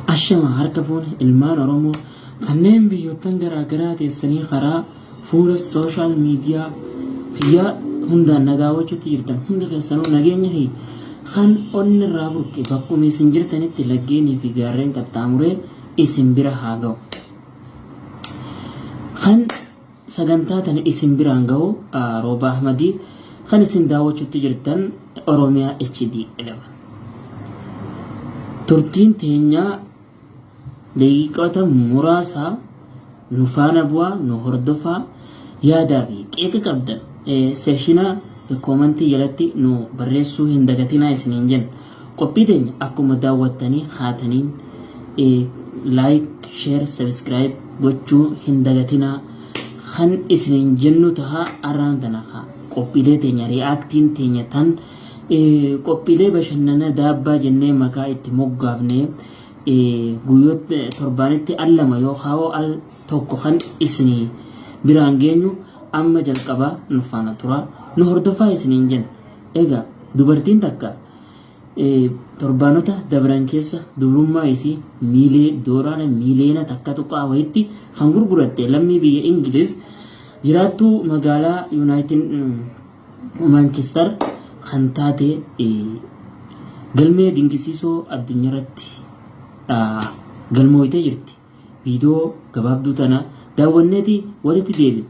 Ashama harka fuune ilmaan Oromoo kanneen biyyoottan garaa garaa teessanii karaa fuula sooshaal miidiyaa biyyaa hundaan na daawwachuutti jirtan hundi keessanuu nageenya fi kan onni irraa burqe bakkuma isin jirtanitti laggeenii fi gaarreen qaxxaamuree isin bira haa ga'u. Kan Sagantaa tana isin biraan gahu Roobaa Ahmadi kan isin daawwachutti jirtan Oromia HD 11. Turtiin teenya daqiiqota muraasaa nu faana bu'aa nu hordofaa yaadaa fi qeeqa qabdan seekshina koomantii jalatti nu barreessuu hin dagatinaa isiniin jenna. Qophii teenya akkuma daawwattanii kaataniin like, share, subscribe gochuu hin dagatinaa. Kan isiniin jennu taha arraan tana kaa qophiilee teenya reaction teenya tan qophiilee bashannana daabbaa jennee maqaa itti moggaafne guyyoota torbaanitti al lama yoo kaawoo al tokko kan isinii biraan geenyu amma jalqabaa nu faana turaa nu hordofaa isiniin jenna. Egaa dubartiin takka torbaanota dabran keessa dubrummaa isii miilee dooraara miileena takka tuqaa wayitti kan gurguratte lammii biyya Ingiliz jiraattuu magaalaa Yuunaayitid Maankistar kan taate galmee dinqisiisoo addunyaarratti galmooytee jirti. Viidiyoo gabaabduu tana daawwanneeti walitti deebina.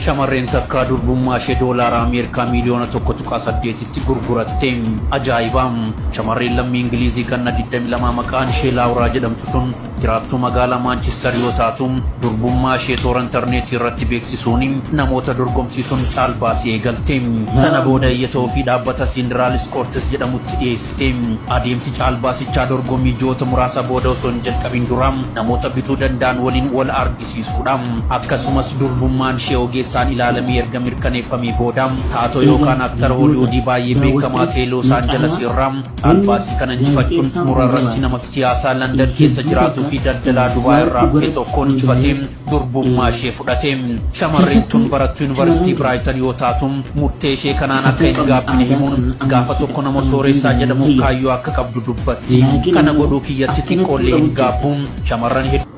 Shamarreen takka durbummaashee doolaara Ameerikaa miiliyoona 1.8tti gurguratte. Ajaa'iba! Shamarreen lammii Ingiliizii ganna 22 maqaan ishee Laawuraa jedhamtu tun jiraattuu magaalaa Maanchistar yoo taatu, durbummaa ishee toora interneetii irratti beeksisuun namoota dorgomsiisuun caalbaasii eegalte. Sana booda iyyata ofii dhaabbata Siindiraaliis Koortis jedhamutti dhiyeessite. Adeemsi caalbaasichaa dorgommii ji'oota muraasa booda osoo hin jalqabin dura namoota bituu danda'an waliin wal argisiisa. ciisuudha. Akkasumas durbummaan ishee ogeessaan ilaalamee erga mirkaneeffamee booda taatoo yookaan aktara Holiwuudii baay'ee beekamaa ta'e Loos Aanjalas irraa caalbaasii kana injifachuun xumura irratti nama siyaasaa Landan keessa jiraatuu fi daldalaa Dubaay irraa dhufe tokkoon injifatee durbummaa ishee fudhate. Shamarreen tun barattuu Yuunivarsiitii Biraayitan yoo taatu murtee ishee kanaan akka hin gaabbine himuun gaafa tokko nama sooressaa jedhamuuf kaayyoo akka qabdu dubbatti. Kana godhuu kiyyatti xiqqoollee hin gaabbu. Shamarran hedduu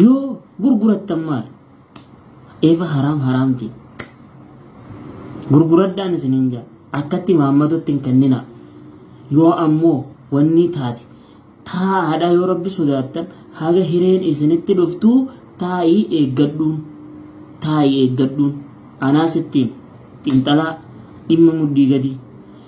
Yoo gurgurattan maal? Eeva haraam haraamti. Gurguradhaan isiniin jaa. Akkatti maammatutti hin kenninaa. Yoo ammoo wanni taate taa'aadhaa yoo rabbi sodaattan haga hireen isinitti dhuftuu taa'ii eeggadhuun. Taa'ii eeggadhuun. Anaa sittiin xinxalaa dhimma muddii gadii.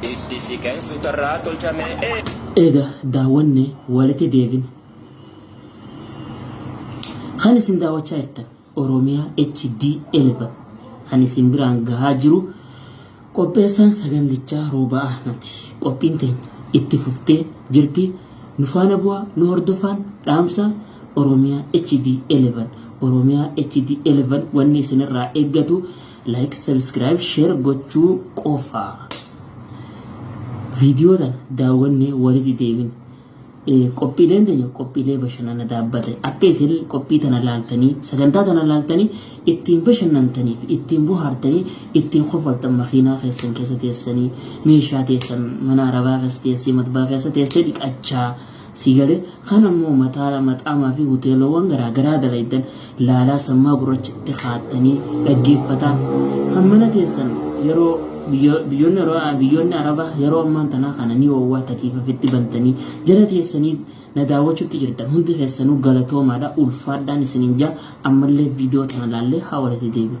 Itti siqeen suutarraa tolchamee. Eega daawwanne waliti deebina. Kan isin daawwachaa jirtan Oromiyaa HD 11 kan isin biraan gahaa jiru qopheessaan sagandichaa Roobaa Ahmadi. Qophiin teenya itti fuftee jirti. Nu faana bu'aa nu hordofaan dhaamsa Oromiyaa HD 11 Oromiyaa HD 11 wanni isinirraa eeggatu like subscribe share gochuu qofa viidiyoo tana daawwannee walitti deebin qophiileen teenya qophiilee bashannana dhaabbate akka isin qophii tana laaltanii sagantaa tana laaltanii ittiin bashannantaniif ittiin bohaartanii ittiin kofaltan makiinaa keessan keessa teessanii meeshaa teessan mana arabaa keessa teessee matbaa keessa teessee dhiqachaa Sii galee? Kan ammoo mataala maxaamaa fi huteelawwan garaa garaa dalaydan laalaa sammaa gurrachatti kaattanii dhaggeeffataa. Kan mana keessan yeroo biyyo- biyyoonni Arabaa- biyyoonni Arabaa yeroo ammaan tanaa kana ni oowwaa takiifafitti bantanii jala teessanii na daawwachuutti jirtan hundi keessanuu galatoomaadha ulfaadhaan isiniin jaa ammallee viidiyoo tana laallee haa walitti deebinu.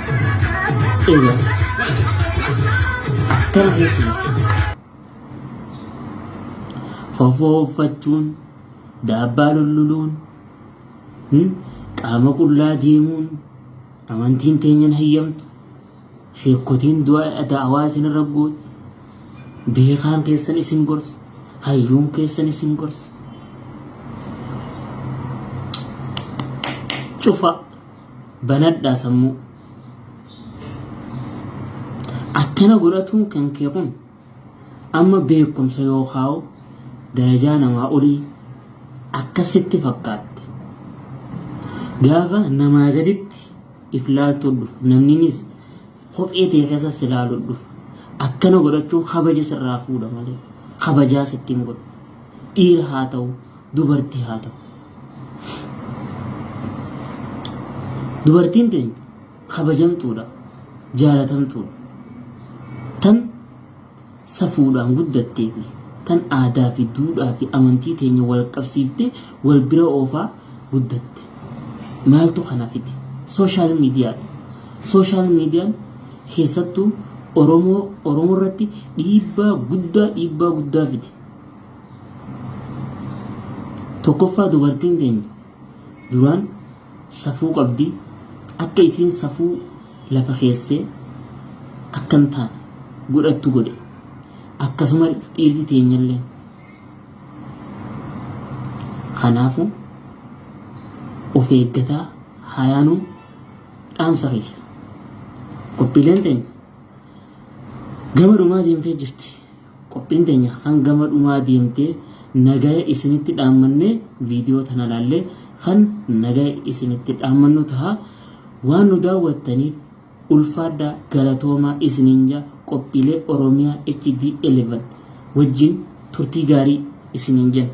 Eeyyee. Akkana jechuudha. Fofoo uffachuun, daabbaa lulluluun, hmm, qaama qullaa deemuun, amantiin teenya hin hayyamtu, sheekkotiin du'a da'awaa isin irra gootu, beekaan keessan isin gorsu, hayyuun keessan isin gorsu. Cufa. Banadhaa sammuu. Akkana godhatuun kan kee kun amma beekumsa yookaan darajaa namaa olii akkasitti fakkaatte. Gaafa namaa gaditti if laaltuu dhufu namninis kophee tee keessa si laaluu dhufu. Akkana godhachuun kabaja sirraa fuudha malee kabajaa sitti hin godhu. Dhiira haa ta'u dubartii haa ta'u. Dubartiin teenya kabajamtuudha, jaalatamtuudha. Tan safuudhaan guddattee fi tan aadaa fi duudhaa fi amantii teenya wal qabsiiftee wal bira oofaa guddatte. Maaltu kana fide? Sooshaal miidiyaadha. Sooshaal miidiyaan keessattuu Oromoo Oromoo irratti dhiibbaa guddaa dhiibbaa guddaa fide. Tokkoffaa dubartiin teenya duraan safuu qabdi akka isiin safuu lafa keessee akka hin taane godhattu godhe akkasuma dhiirri teenyallee kanaafu of eeggataa hayaanuu dhaamsa kiyya qophiileen teenya gama dhumaa deemtee jirti Qophiin teenya hangama dhumaa deemte nagaya isinitti dhaammannee viidiyoo tana laallee kan nagaya isinitti dhaammannu taha waan nu daawwattaniif ulfaadhaa galatoomaa isiniin ja qophiilee Oromiyaa HD 11 wajjin turtii gaarii isiniin jenna.